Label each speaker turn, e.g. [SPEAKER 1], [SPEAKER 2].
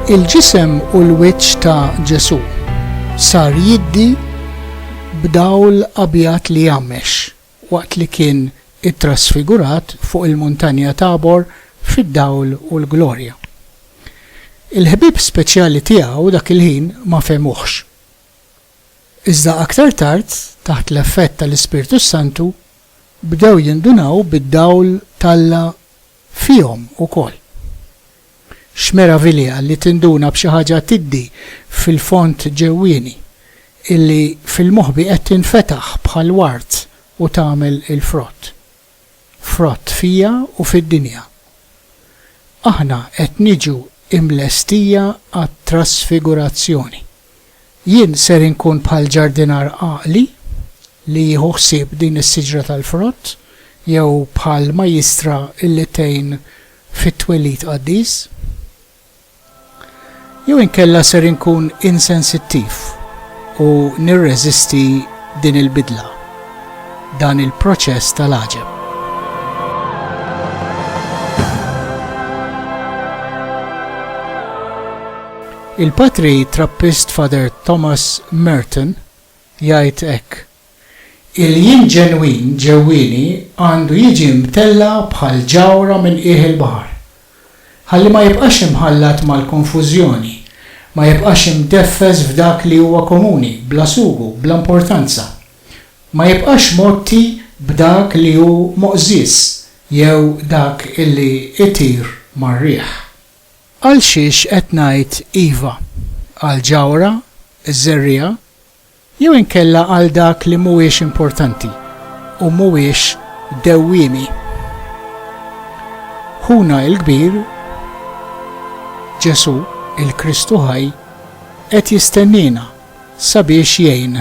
[SPEAKER 1] Il-ġisem u l-wiċċ ta' Ġesù sar jiddi b'dawl abjad li jgħammex waqt li kien ittrasfigurat fuq il-Muntanja Tabor fid-dawl u l-glorja. Il-ħbieb speċjali tiegħu dak il-ħin ma fehmuhx. Iżda aktar tard, taħt l-effett tal-Ispirtu s-Santu, bdew jindunaw bid-dawl t'Alla fihom ukoll. X'meravilja li tinduna b'xi ħaġa tiddi fil-fond ġewwieni, illi fil-moħbi qed tinfetaħ bħal ward u tagħmel il-frott! frott fija u fid-dinja. Aħna qed niġu imlestija għat-trasfigurazzjoni. Jien ser inkun bħal ġardinar għaqli li jieħu ħsieb din is-siġra tal-frott jew bħal majjistra illi tgħin fit-twelid qaddis? Jew inkella ser inkun insensittiv u nirreżisti din il-bidla, dan il-proċess tal-għaġeb? Il-patri Trappist Father Thomas Merton jgħid hekk Il-jien ġenwin ġewwieni għandu jiġi mtella' bħal ġawhra minn qiegħ il-baħar, ħalli ma jibqax imħallat mal-konfużjoni, ma jibqax imdeffes f'dak li huwa komuni, bla sugu, bla importanza, ma jibqax mgħotti b'dak li hu moqżież jew dak li jtir mar-riħ. Għalxiex qed ngħid iva għall-ġawhra, iż-żerriegħa? Jew inkella għal dak li mhuwiex importanti u mhuwiex dewwiemi. Ħuna il-kbir, Ġesù, il-Kristu ħaj, qed jistenniena sabiex jgħin.